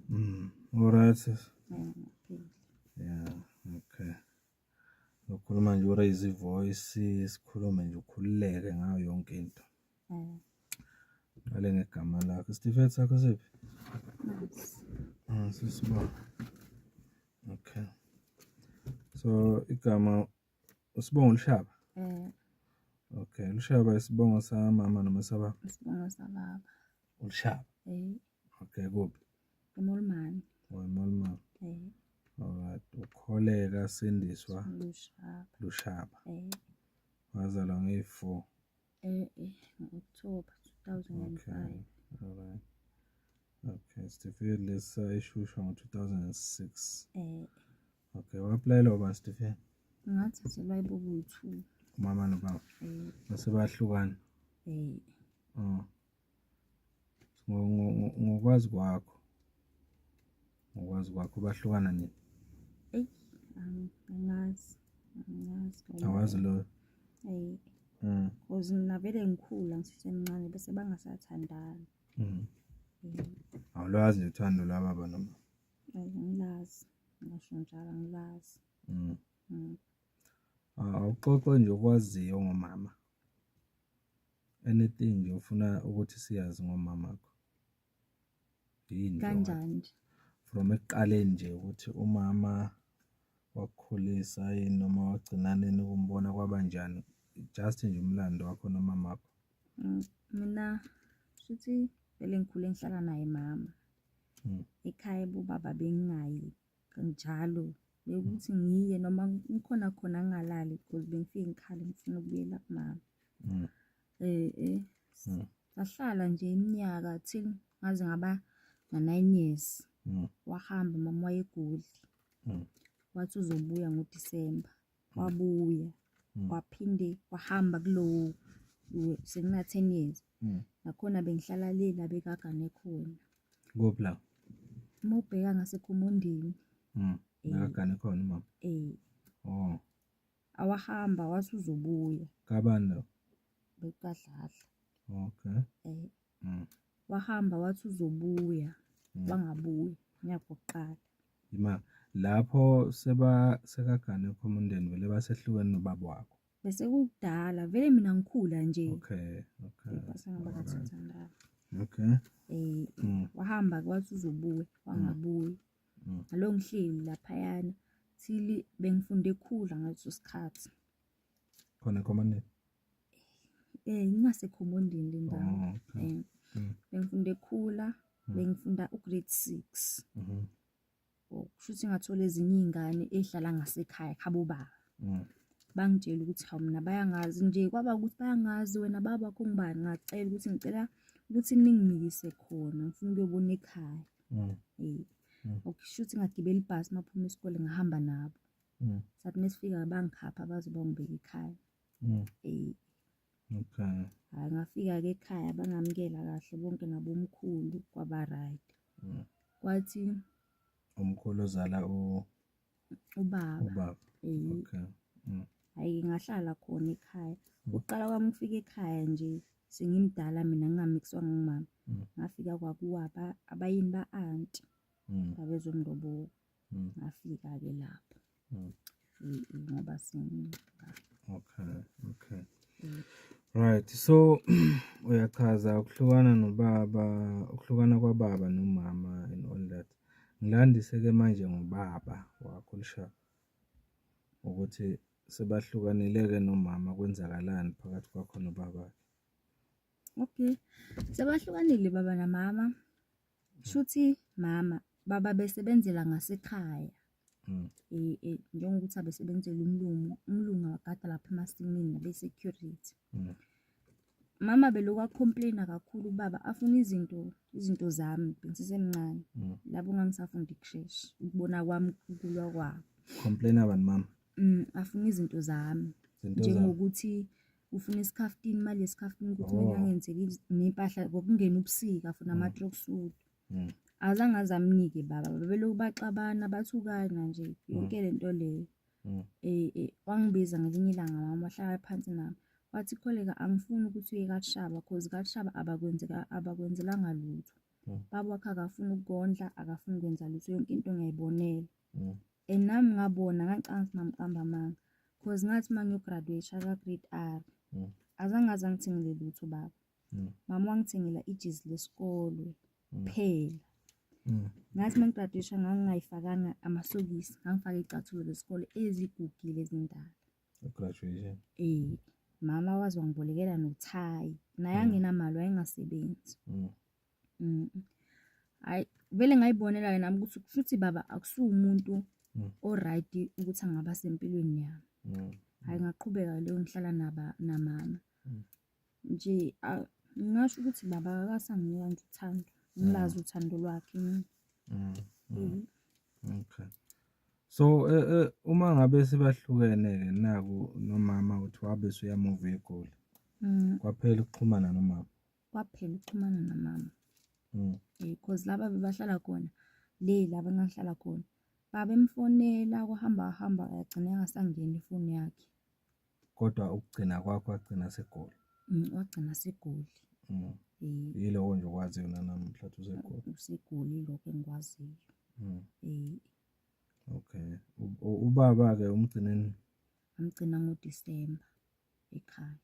Mm. Alright sisi. Yeah, okay. Ukhuluma nje uraise ivoice, sikhulume nje ukhululeke ngayo yonke into. Mm. Ngale ngegama lakho. Isitifiketi sakho siphi? Ah, sisiba. Okay. So igama Usibongo Lushaba? Eh. Okay, Lushaba isibongo samama noma sababa? Isibongo sababa. Ulushaba? Eh. Okay, kuphi? Emolmani. Oh, Emolmani. Eh. Alright, ukholeka sindiswa Lushaba. Lushaba. Eh. Wazalwa ngeyi-4. Eh, eh, October 2005. Okay. All right. Okay, Stefan lesa ishusha ngo-2006. Eh. Okay, waplaelwa ba Stefan? Ngathathelwa ibuku yi-two. Umama nobaba? Eh. Base bahlukana? Eh. Oh. ngokwazi kwakho ngokwazi kwakho bahlukana nini eyi angazi angazi awazi loyo eyi mm. cause mina vele ngikhula ngisesemncane bese bangasathandani mm. awulwazi nje uthando lwababa noma ayi ngilazi ngasho njalo ngilazi mm. awuxoxe nje okwaziyo ngomama Anything nje ofuna ukuthi siyazi ngomamakho. Yini kanjani nje? From ekuqaleni nje ukuthi umama wakukhulisa yini noma wagcina nini ukumbona kwaba njani? Just nje umlando wakho nomamakho. Mm, mina shuthi vele ngikhule ngihlala naye mama. Mm. Ekhaya bobaba bengingayi njalo bekuthi ngiye noma ngikhona khona ngingalali because bengifike ngikhale ngifuna ukubuyela kumama mm. eh eh mm. sahlala nje iminyaka till ngaze ngaba na-9 years mm. wahamba mama wayegudli wathi uzobuya ngoDisemba wabuya mm. waphinde wahamba kulowo sekuna-ten years mm. nakhona bengihlala le la bekagane khona kuphi la uma ubheka ngasekhumundini mm. eh. bekagane khona umama um oh. awahamba wase uzobuya kabani lo bekukadladla okay um mm. wahamba wathi uzobuya mm. wangabuyi ngiyakuqala ima lapho seba sekagane khoma umndeni vele basehlukene nobaba wakho bese kudala vele mina ngikhula nje okay okay basangaba kathandana okay eh mm. wahamba kwathi uzobuya wangabuyi mm. alo ngihleli lapha yana thili bengifunde ekhula ngaleso sikhathi khona komandeni Eh ngingasekhomondini le ndawo. Oh, okay. Eh, Mm. Bengifunda ekhula, Mm. bengifunda ugrade 6. Mhm. Oh, kusho ukuthi ngathola ezinye iy'ngane ey'hlala ngasekhaya khabo baba. Mm. Bangitshela ukuthi hawu mina bayangazi nje kwaba ukuthi bayangazi wena baba wakho ngubani ngacela ukuthi ngicela ukuthi ningimikise khona ngifuna ukuyobona ekhaya. Mm. Eh. Mm. Okay, kusho ukuthi ngagibela ibhasi maphuma isikole ngahamba nabo. Mm. Sathi mesifika bangikhapha baze bangibeke ekhaya. Mm. Okay. Hayi ngafika-ke ekhaya bangamukela kahle bonke nabomkhulu kwaba right. Mm. Kwathi umkhulu ozala u ubaba. Ubaba. Eh. Okay. Mm. Hayi ngahlala khona ekhaya. Mm. Uqala kwami ukufika ekhaya nje sengimdala mina ngingamixwa ngumama. Mm. Ngafika kwakuwa abayini ba-anti. Mm. Babezomlobola. Mm. Ngafika-ke lapho. Mm. Ngoba Okay, okay. Mm. Right. So uyachaza ukuhlukana nobaba, ukuhlukana kwababa nomama and all that. Ngilandise ke manje ngobaba wakho lishaba ukuthi sebahlukanile ke nomama kwenzakalani phakathi kwakho nobaba. Okay. Sebahlukanile baba namama. Shuthi mama baba besebenzela ngasekhaya. Mm. Eh, eh, njengokuthi abesebenzela umlungu umlungu akade lapha emasimini nabe-security mm. mama beloku acomplaina kakhulu ubaba afuna izinto izinto zami bensisemncane mm. labo ngangisafunda ikushesha ukubona kwami ukulwa kwabo complaina bani mama Mm, afuna izinto zami Zinto zami. njengokuthi ufuna isikhaftini imali yesikhaftini ukuthi Oh. mina ngenzeke iz- ney'mpahla ngokungena ubusika afuna Mm. ama-tracksuit Mm. azange aze amnike baba babelokhu baxabana bathukana nje yonke le nto leyo Mm. Eh, eh, wangibiza ngelinye ilanga mama wahlala phansi nami wathi kholeka angifuni ukuthi uye kashaba cause kashaba abakwenzeka abakwenzelanga lutho Mm. baba wakhe akafuni ukukondla akafuni ukwenza lutho yonke into ngiyayibonela mm. and nami ngabona ngacanga ukuthi mamqamba amanga cause ngathi uma ngiyograduate aka-grade r mm. azange aze angithengele lutho baba mm. mama wangithengela ijezi lesikole mm. phela mm. ngathi uma ngigraduation ngangingayifakanga amasokisi ngangifake icathulo lesikole ezigugile ezindala graduation eh mama waze wangibolekela nothayi naye mm. angenamali wayengasebenzi mm. Mm. Hayi vele ngayibonela ke nami ukuthi kushuthi baba akusumuntu Mm. oright ukuthi angaba sempilweni yami. Mm. Hayi ngaqhubeka leyo ngihlala naba namama. Mm. Nje a- ngingasho ukuthi baba akasanginika nje uthando. Ngilazi uthando lwakhe mina. Mm. Mm. Mhm. Okay. So eh eh uma ngabe sibahlukene ke naku nomama uthi wabe usuyamuva egoli. Mm. Kwaphela ukuxhumana nomama. kwaphela ukuxhumana namama mm. eh, cause laba bebahlala khona le laba engahlala khona babemfonela kuhamba hamba yagcina engasangeni ifoni yakhe kodwa ukugcina kwakho wagcina segoli mm, wagcina segoli mm. eh. yilowo nje okwaziyo nanamuhla usegoli usegoli lokho engikwaziyo mm. eh. okay ubaba-ke umgcineni amgcina ngodisemba ekhaya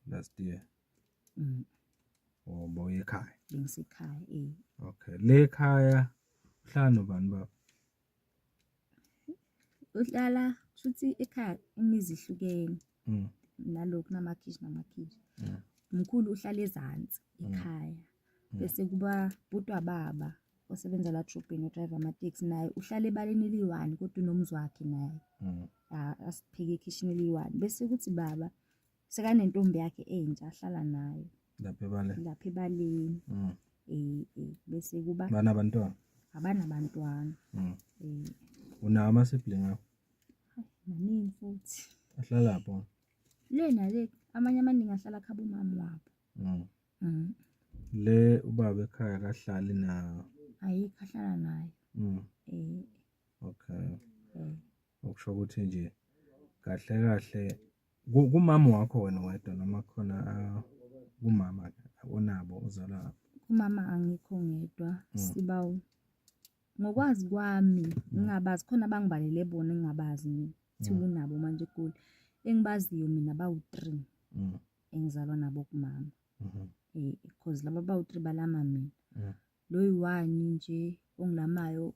last year mm. oh boy ekhaya bengisekhaya eh okay le ekhaya uhlala nobani baba uhlala shuthi ekhaya imizi ihlukene mm. nalokhu namakhishi namakhishi mm. mkhulu uhlala ezantsi mm. ekhaya mm. bese kuba butwa baba osebenza la drobheni odrive amateksi naye uhlala ebaleni eliyi-one kodwa unomzi wakhe naye mm. asipheke ekhishini eliyi-one bese kuthi baba sekanentombi yakhe entsha ahlala nayo lapha ebaleni lapha ebaleni mm. eh, eh, bese kuba banabantwana abanabantwana mm. eh. unawo ama-sibling akho maningi futhi ahlala pho le nale amanye amaningi ahlala khaba umama wabo Mm. Le ubaba ekhaya kahlali na. Ayikho ahlala nayo. Mm. Eh. Okay. Eh. Okusho ukuthi nje kahle kahle kumama wakho wena wedwa noma khona ah, kumama onabo uzalwa ngapha. Kumama angikho ngedwa mm. sibawu. Ngokwazi kwami mm. ngingabazi khona abangibalele bona engingabazi mina. Thiwa unabo manje eGoli. Engibaziyo mina bawu-three. engizalwa nabo kumama mhm. eh because laba bawu 3 balama mina mhm. lo yiwani nje ongilamayo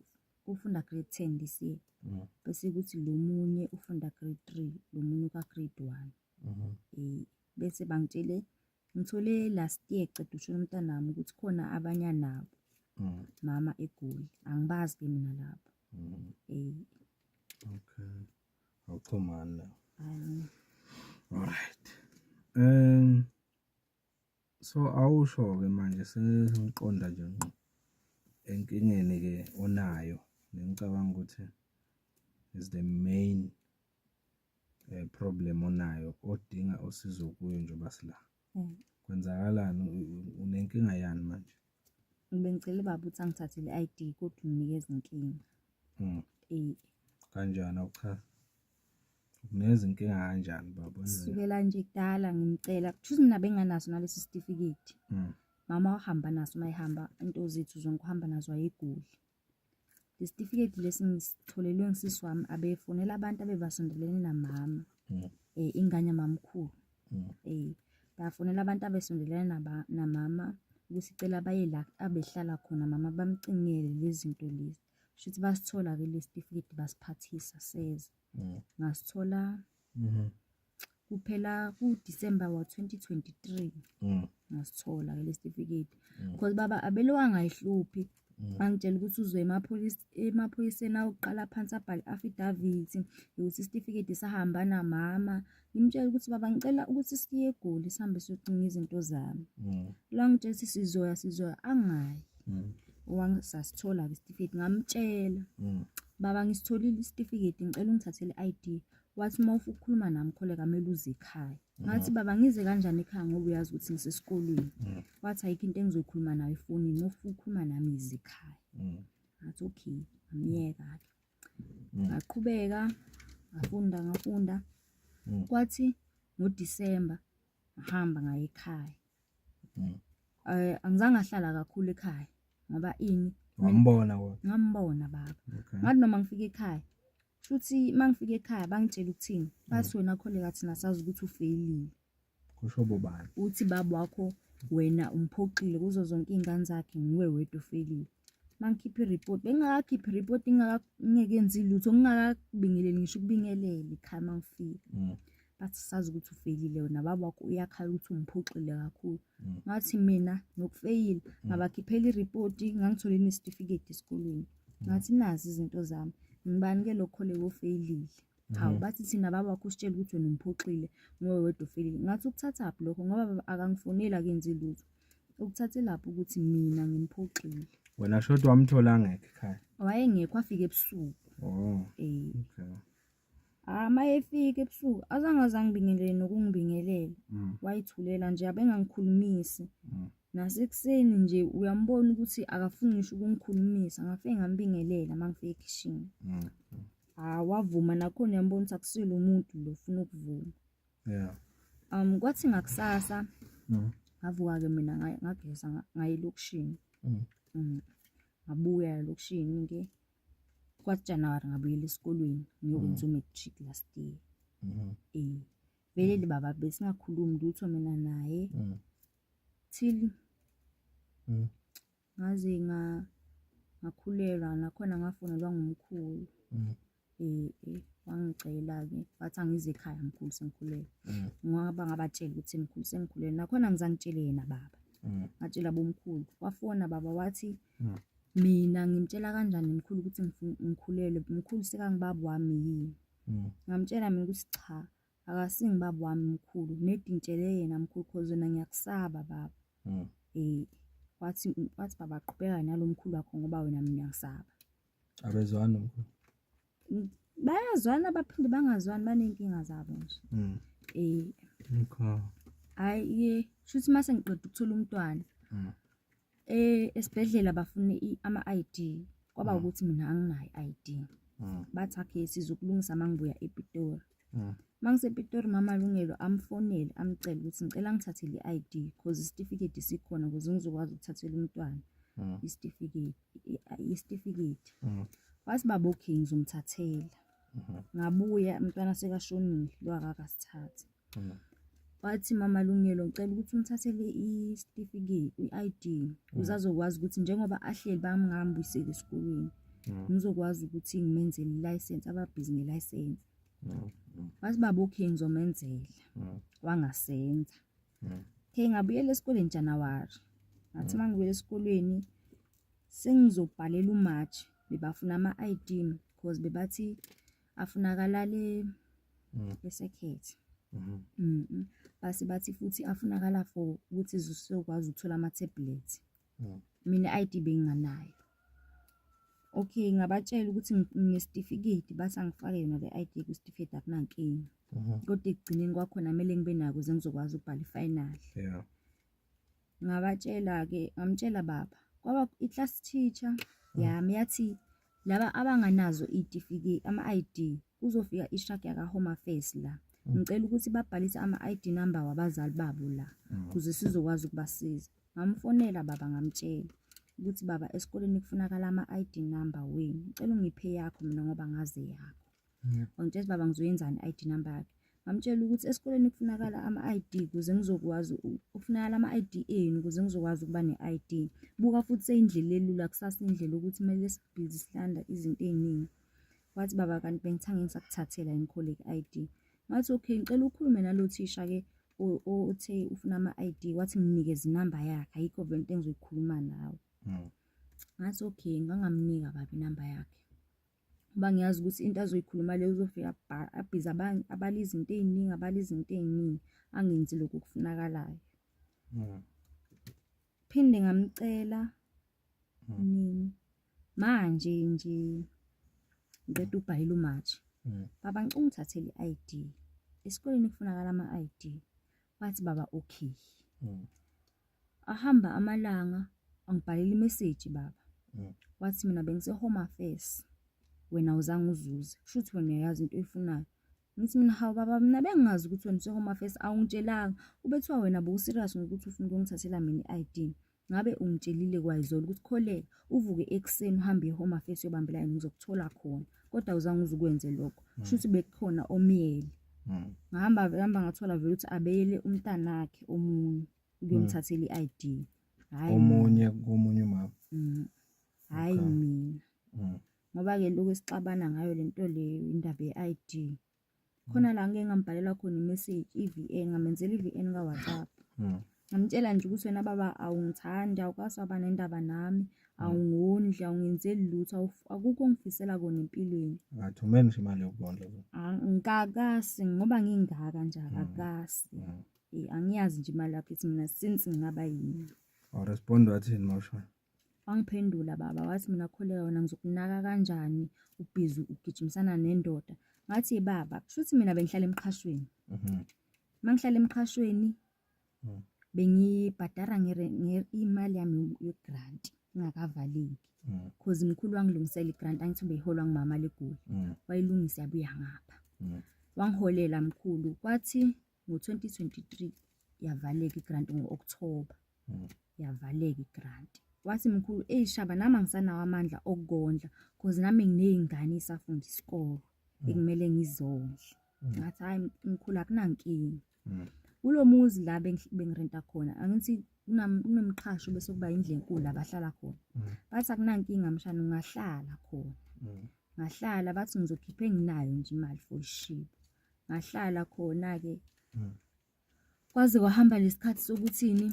ufunda grade 10 this year mhm. bese ukuthi lo munye ufunda grade 3 lo munye ka grade 1 eh bese bangitshele ngithole last year cede ushona umntanami ukuthi khona abanya nabo mama egoli angibazi ke mina lapho eh okay awuxhumani la right um so awusho ke manje sengiqonda nje ngqo enkingeni ke onayo nengicabanga ukuthi is the main eh, problem onayo odinga usizo kuyo njengoba sila Mm. Kwenzakalani unenkinga yani manje? Bengicela ubaba ukuthi angithathele i-ID kodwa unginikeza inkinga. Mm. Eh. Kanjani awuchaza? Ukuneza inkinga kanjani baba? Sukela nje kudala ngimcela. Kushuthi mina benganaso nalesi certificate. Mm. Mama uhamba naso uma ehamba into zethu zonke uhamba nazo ayiguli. Lesitifiketi lesi ngisitholelwe ngisisi wami abefunela abantu abebasondelene namama. Mm. Eh ingane mamkhulu. Mm. Eh bafunela abantu abesondelene naba namama ukusicela baye la abehlala khona mama bamcingele lezinto lezi. Shuthi basithola ke lesitifiketi basiphathisa seza. Mm. Ngasithola. Mhm. kuphela kuDisemba wa-2023 mm. ngasithola ke lesitifiketi mm. because baba abele wangayihluphi mm. angitshela ukuthi uzwe emaphoyiseni awokuqala phansi abhale affidavit yokuthi isitifiketi sahamba namama ngimtshela ukuthi baba ngicela ukuthi siye egoli sihambe siyocinga izinto zami lo ngitshela ukuthi sizoya sizoya angayi wangisasithola-ke isitifiketi ngamtshela baba ngisitholile isitifiketi ngicela ungithathele i-id wathi uma ukhuluma nami kholeka kumele uze ekhaya ngathi baba ngize kanjani ekhaya ngoba uyazi ukuthi ngisesikolweni mm. wathi ayikho into engizoyikhuluma nayo efonini uma ufuna ukukhuluma nami yize ekhaya mm. ngathi okay amyeka-ke mm. ngaqhubeka ngafunda ngafunda kwathi ngodisemba ngahamba ngaye ekhaya um angizange ahlala kakhulu ekhaya ngoba ini ngambona ngambona baba ngathi noma ngifika ekhaya Shuthi mangifika ekhaya bangitshela ukuthini? Bathi mm. wena kholeka thina sazi ukuthi ufeyilile. Kusho bobani? Uthi baba wakho wena umphoxile kuzo zonke iy'ngane zakhe nguwe wedwa ofeyilile. Mangikhiphe i-report bengingakakhiphi i-report ngingeke ngenzi lutho ngingakakubingeleli ngisho ukubingelele ekhaya mangifika. Mm. but sazi ukuthi ufeyilile wena baba wakho uyakhala ukuthi umphuxile kakhulu mm. ngathi mina ngokufeyila mm. ngabakhiphela iripoti ngangithole nesitifiketi esikolweni mm. ngathi nazi izinto zami ngibani ke lokho leyo ofeyilile hawu mm-hmm. bathi thina baba wakho usitshela ukuthi wena umphuxile ngowe wedwa ofeyilile ngathi ukuthathaphi lokho ngoba akangifoneli akenzi lutho ukuthathelaphi ukuthi mina ngimphuxile wena shodwa wamthola ngekho ekhaya wayengekho afike ebusuku oh eh okay Ah, uma efika ebusuku azange aze angibingelele nokungibingelela Mm. wayithulela nje abengangikhulumisi Mm. nasekuseni nje uyambona ukuthi akafuni ngisho ukungikhulumisa ngafike ngambingelela uma ngifike ekhishini Mm. ah wavuma nakhona uyambona ukuthi akusile umuntu lo ufuna ukuvuma Yeah. um kwathi ngakusasa Mm. ngavuka-ke mina nga- ngageza nga- ngaye elokishini Mm. Mm. ngabuya elokishini-ke Kwathi January ngabuyela esikolweni ngiyokwenza mm. u-matric last year. Mm-hmm. Eh. Vele mm. libaba besingakhulumi lutho mina naye. Mm. Till ngaze nga ngakhulelwa nakhona ngafonelwa ngumkhulu. Eh, eh wangicela-ke wathi angize ekhaya mkhulu sengikhulelwe. Ngoba ngabatshela ukuthi mkhulu sengikhulelwe nakhona ngizangitshele yena baba. Ngatshela bomkhulu. Wafona baba wathi Mina ngimtshela kanjani mkhulu ukuthi ngifuna ngikhulelwe? Mkhulu sekangibaba wami yini? Mm. Ngamtshela mina ukuthi cha, akasingi baba wami mkhulu, nedi ngitshele yena mkhulu cause wena ngiyakusaba baba. Mm. Eh, wathi wathi baba qhubeka nalo mkhulu wakho ngoba wena mina ngiyakusaba. Abezwani nomkhulu? Ng- Bayazwana baphinde bangazwani baney'nkinga zabo nje. Mm. Eh, Okay. hhayi-ke shuthi uma sengiqeda ukuthola umntwana Mm. Eh esibhedlela bafuna ama ID kwaba mm. ukuthi mina anginayo ID. Mm. Bathi akhe sizokulungisa mangibuya ePitori. Mm. Mangisepitori mama Lungelo amfonele amcela ukuthi ngicela ngithathe le ID because isitifiketi sikhona ukuze ngizokwazi ukuthathela umntwana mm. isitifiketi isitifiketi. Mm. Wathi baba okay ngizomthathela. Mm-hmm. Ngabuya umntwana sekashonile lo akakasithathi. Mm. Wathi mama Lungelo ngicela ukuthi umthathele isitifiketi i-ID mm. uzazokwazi ukuthi njengoba ahleli bamngambuyiseli esikolweni mm. ngizokwazi ukuthi ngimenzele i-license ababhizi nge-license wathi baba okay ngizomenzela wangasenza okay ngabuyela esikoleni January ngathi mangibuyela esikolweni sengizobhalela uMarch bebafuna ama-ID because bebathi afunakalale mm. esekhethi mm-hmm. mm -hmm. base bathi futhi afunakala for ukuthi zisokwazi ukuthola ama-tablet mm. mina i-id benginganayo okay ngabatshela ukuthi nginesitifiketi bathi angifake yona le ID kwisitifiketi akunankinga mhm. kodwa ekugcineni kwakhona kumele ngibe nako ze ngizokwazi ukubhala ifinal yeah ngabatshela-ke ngamtshela baba kwaba i-class teacher mhm. yami yathi Laba abanganazo iy'tifiketi ama-ID kuzofika i-truck yaka-Home Affairs la. Mm. Ngicela ukuthi babhalise ama-ID number wabazali babo la mm. ukuze sizokwazi ukubasiza. Ngamfonela baba ngamtshela ukuthi baba esikoleni kufunakala ama-ID number wenu. Ngicela ungiphe yakho mina ngoba ngazi yakho. wangitshela baba ngizoyenzani i-id number yakhe ngamtshela ukuthi esikoleni kufunakala ama-id kuze ngizokwazi kufunakala ama-id enu kuze ngizokwazi ukuba ne-id buka futhi seyindlela elula kusasa indlela ukuthi kumele sibhizi silanda izinto ey'ningi wathi baba kanti bengithange ngisakuthathela yini kholeki i-id ngathi okay ngicela ukhulume nalo thisha-ke othe ufuna ama-id wathi nginikeze inamba yakhe ayikho vele into engizoyikhuluma nawe hmm. ngathi okay ngangamnika baba inamba yakhe Ngoba ngiyazi ukuthi into azoyikhuluma leyo uzofika abhize abanye, abale izinto ey'ningi, abale izinto ey'ningi, angenzi lokhu okufunakalayo. Mm. Phinde ngamcela Mm. nini manje nje ngiqeda ubhayile umatshi Mm. baba ngicela ungithathele i-id esikoleni kufunakala ama-id Bathi baba okay. Mm. Ahamba amalanga angibhalela imeseji baba. Mm. Wathi mina bengise home affairs. Wena uzange uzuze. Kusho ukuthi wena uyayazi into oyifunayo. Ngithi mina hawu baba mina bengingazi ukuthi wena use home affairs awungitshelanga. Ubethiwa wena bo serious ngokuthi ufuna ukungithathela mina i-ID. Ngabe ungitshelile kwayizolo ukuthi kholeka uvuke ekuseni uhambe e-home affairs uyobamba ilayini ngizokuthola khona kodwa awuzange uze ukwenze lokho hmm. shuthi bekukhona omyele hmm. ngahamba hamba ngathola vele ukuthi abeyele umntanakhe omunye ukuyomthathela hmm. i-ID hayi omunye komunye umama hayi mina ngoba ke lokho esixabana ngayo lento leyo indaba ye-ID khona la ngike ngambhalela khona imessage i-VA ngamenzela i-VN kaWhatsApp hmm. ngamtshela nje ukuthi wena baba awungithandi awukwazi waba nendaba nami hmm. awungondli awungenzeli lutho akukho ongifisela kona empilweni ngathi umeni nje imali yokubondla ah, ngikakasi ngoba ngingaka nje hmm. akakasi eh, angiyazi nje imali yakhe ithi mina since ngingaba yini awurespond wathini mawushona Wangiphendula baba wathi mina kholeka wena ngizokunaka kanjani ubhizi ugijimisana nendoda. Ngathi baba kushuthi mina bengihlala emqhashweni. Mhm. Mangihlala emqhashweni Mm. bengibhadara ngere- nge- imali yami yegrant ingakavaleki Mm. cause mkhulu wangilungisela igrant angithi ubeyiholwa ngumama legoli Mm. wayilungisa yabuya ngapha Mm. wangiholela mkhulu kwathi ngo-2023 yavaleka igranti ngo-okthoba hmm. yavaleka igranti wathi mkhulu eyi shaba nami angisanawo amandla okukondla cause nami nginey'ngane isafunda isikolo hmm. ekumele ngizondle hmm. ngathi hhayi mkhulu akunankinga kulo muzi la bengirenta khona angithi kunomqhasho bese kuba indlu enkulu la bahlala khona bathi akunankinga mshana ungahlala khona ngahlala bathi ngizokhipha enginayo nje imali for ishiba ngahlala khona-ke hmm. kwaze kwahamba lesikhathi sokuthini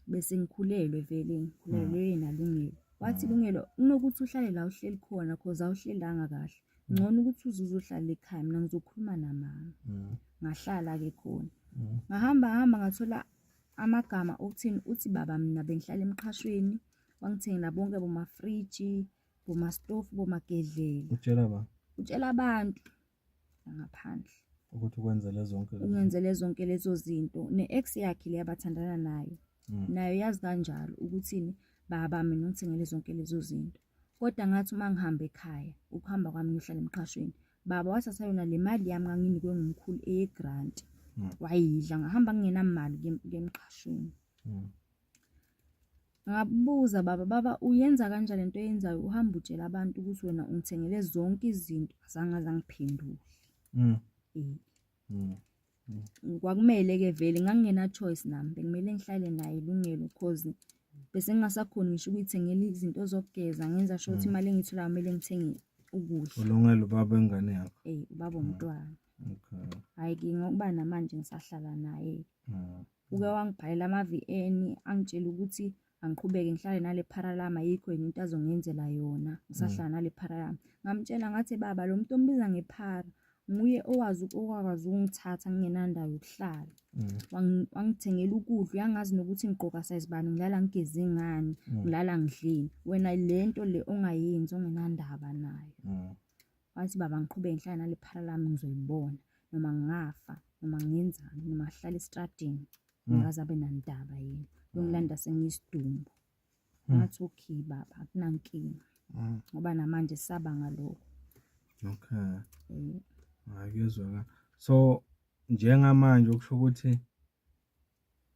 bese ngikhulelwe vele ngikhulelwe hmm. nalungelo wathi hmm. lungelo kunokuthi uhlale la uhleli khona cause awuhlelanga kahle ngcono ukuthi uze uzohlala ekhaya mina ngizokhuluma namama ngahlala-ke khona ngahamba hamba ngathola amagama okuthini uthi baba mina bengihlala emqhashweni wangithengela bonke bomafriji bomastofu bomagedlela utshela abantu nangaphandle ukuthi ukwenzele zonke ungenzele zonke lezo zinto ne-ex yakhe le abathandana nayo mm. nayo yazi kanjalo ukuthini baba mina ungithengele zonke lezo zinto kodwa ngathi uma ngihamba ekhaya ukuhamba kwami ngihlala emqashweni baba wathatha yona le mali yami nganginikwe ngumkhulu eye-grant mm. wayidla ngahamba ngingenamali kuye emqashweni mm. Ngabuza baba, baba uyenza kanjani lento oyenzayo uhamba utshela abantu ukuthi wena ungithengele zonke izinto azange azangiphendule. Mm. Eh. Mm. Mm. Kwakumele ke vele ngangingena choice nami bekumele ngihlale naye ilungelo cause bese ngingasakhoni ngisho ukuyithengela izinto zokugeza ngenza sho ukuthi mm. imali engiyitholayo kumele ngithenge ukudla. Ulungele ubaba engane yakho. Eh ubaba mm. umntwana. Okay. Hayi ke ngokuba namanje ngisahlala naye. Mm. uke wangibhalela ama-VN angitshela ukuthi angiqhubeke ngihlale nale paralam ayikho yini into azongenzela yona ngisahlala mm. nale paralam ngamtshela ngathi baba lo muntu ombiza ngephara nguye owazi owakwazi ukungithatha ngingenandawo yokuhlala mm. wangithengela ukudla uyangazi nokuthi ngigqoka size bani ngilala ngigeze ngani mm. ngilala ngidleni wena le nto le ongayenzi ongenandaba nayo Wathi baba ngiqhube ngihlala nale phara lami ngizoyibona noma ngingafa noma ngenzani noma ngihlala esitradini ngikaze abe nandaba yena uyongilanda sengiyisidumbu ngathi okay baba akunankinga Mm. ngoba namanje saba ngaloko Okay. Eh, Hayi kuyezwakala. So njengamanje okusho ukuthi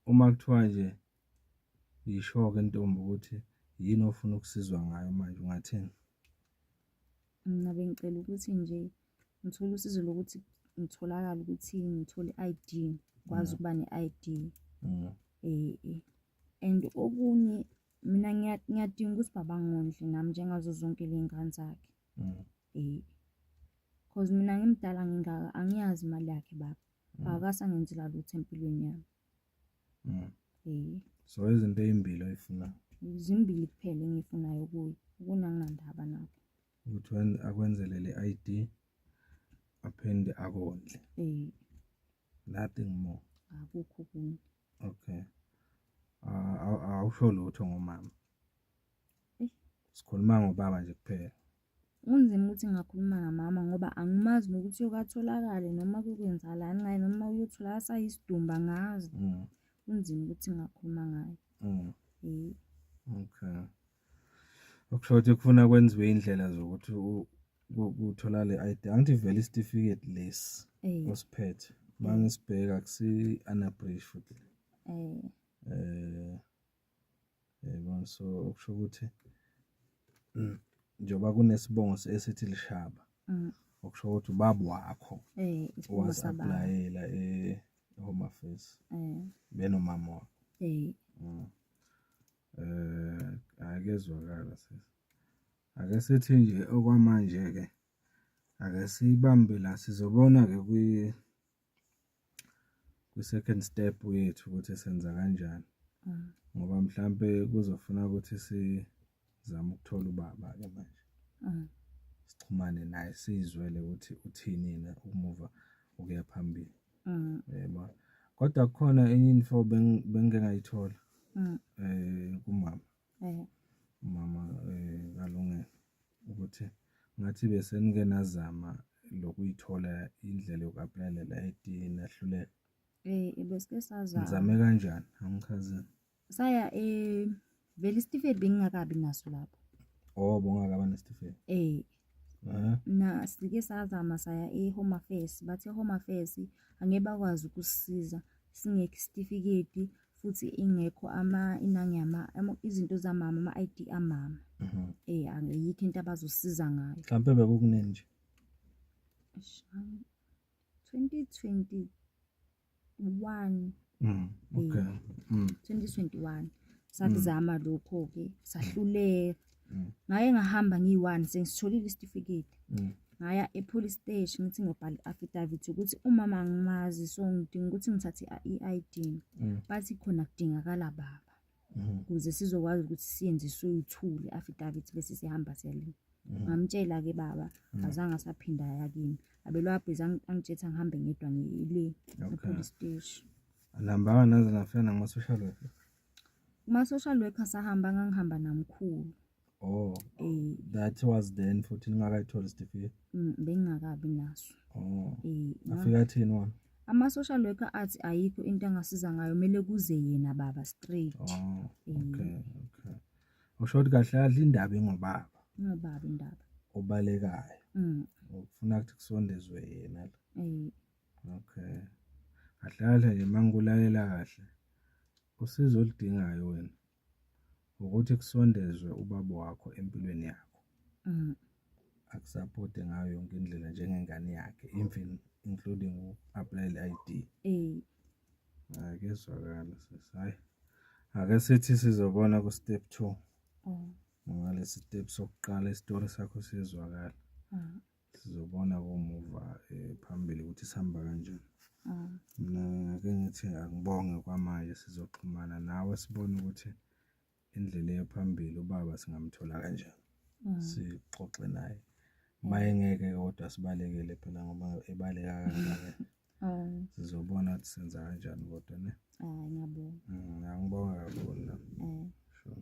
uma kuthiwa nje yisho ke intombi ukuthi yini ofuna ukusizwa ngayo manje ungathini? Mina bengicela ukuthi nje ngithole usizo lokuthi ngitholakale ukuthi ngithole i-ID ngikwazi ukuba ne-ID um and okunye mina ngiyadinga ukuthi baba ngondle nami njengazo zonke ley'ngane zakhe um mm. cause mina ngimdala ngingaka angiyazi imali yakhe baba mm. akasangenzi la lutho empilweni yami Mm. Eh. So izinto ezimbili oyifunayo. Izimbili kuphela engifunayo kuyo. Kunangandaba nakho. Ukuthi wenze akwenzele le ID aphinde akondle. Eh. Nothing more. Akukho kunye. Okay. Ah, awusho lutho ngomama. Sikhuluma ngobaba nje kuphela. Kunzima ukuthi ngakhuluma ngamama ngoba angimazi nokuthi yokatholakale noma kukwenzakalani ngaye noma uyothola asayisidumbu angazi. Mm. Kunzima ukuthi ngakhuluma ngaye. Mm. Eh. Okay. Okusho ukuthi kufuna kwenziwe indlela zokuthi kuthola le ID. Angithi vele isitifiketi lesi eh. osiphethe. Uma ngisibheka kusi-anabrish futhi. Eh. Eh. Yayibona so okusho ukuthi njengoba kunesibongo esithi lishaba mm. okusho ukuthi ubaba wakho eh, wasapulayela e-home affairs eh. benomama wakho eh. mm. eh akezwakala sisi ake sithi nje okwamanje-ke ake siyibambe la sizobona-ke kwi-second step yethu ukuthi senza kanjani mm. ngoba mhlampe kuzofuna ukuthi sizame ukuthola ubaba ke manje mm. sixhumane naye sizwele ukuthi uthini yena ukumuva ukuya phambili mm. yebo kodwa kukhona enye info bengingayithola um kumama mm. umama eh, kalungelo ukuthi ngathi besenike nazama lokuyithola indlela yoku-aplayela la edini nahluleka eh, um besike sazama ngizame kanjani angichazini saya um vele isitifiketi bengingakabi naso lapho oh bongakabanesitifiketi um Mhm. na sike sazama saya e-home affairs bathi e-home affairs angeke bakwazi ukusisiza singekho isitifiketi futhi ingekho ama inangi yama ama- izinto zamama ama-id amama Mhm. eh angiyikho into abazosiza ngayo mhlawumpe bekukunini nje Eish, angi- 2020 one mm, okay. Eh, mm. 2021 sakuzama mm. lokho-ke sahluleka mm. ngaye ngahamba ngiyi-one sengisitholile isitifiketi mm. ngaya e-police station ngithi ngiyobhala i-affidavit ukuthi umama angimazi so ngidinga ukuthi ngithathe i-i d mm. bathi khona kudingakala baba Mm. kuze sizokwazi ukuthi siyenziswe uthuli affidavit bese sihamba siyalima mm. ngamtshela ke baba mm. azange asaphinda ya kimi abelwabhiza angitshetha ngihambe ngedwa ngile epolice station anihambanga naze nafika nakumasocial worker kuma-social worker sahamba ngangihamba namkhulu Oh. Eh. That was then futhi ningakayitholi isitifiketi. Mm, bengingakabi naso. Oh. Eh. Afika thini wona? Ama social worker athi ayikho into angasiza ngayo mele kuze yena baba straight. Oh. Eh. Okay, okay. Usho ukuthi kahle adla indaba ingobaba. Ingobaba indaba. Obalekayo. Mm. Ufuna ukuthi kusondezwe yena la. Eh. Okay. Kahle kahle nje mangikulalela kahle. Usizo oludingayo wena. Ukuthi kusondezwe ubaba wakho empilweni yakho. Mm. Akusapothe ngayo yonke indlela njengengane yakhe even including u-apply le-ID. Eh. Hayi kuyezwakala sisi. Hayi. Ake sithi sizobona ku step 2. Mm. Ngalesi step sokuqala isitori sakho sizwakala. Mm. Sizobona komuva eh, phambili ukuthi sihamba kanjani. Mm. Mina ngake ngithi angibonge kwamanje sizoxhumana nawe sibone ukuthi indlela eya phambili ubaba singamthola kanjani. Mm. Sixoxe naye. Uma engeke kodwa sibalekele phela ngoba ebaleka kangaka. Mm. Sizobona ukuthi senza kanjani kodwa ne. Hayi ngiyabonga. Mm, Angibonga kakhulu la. Mm. Sure.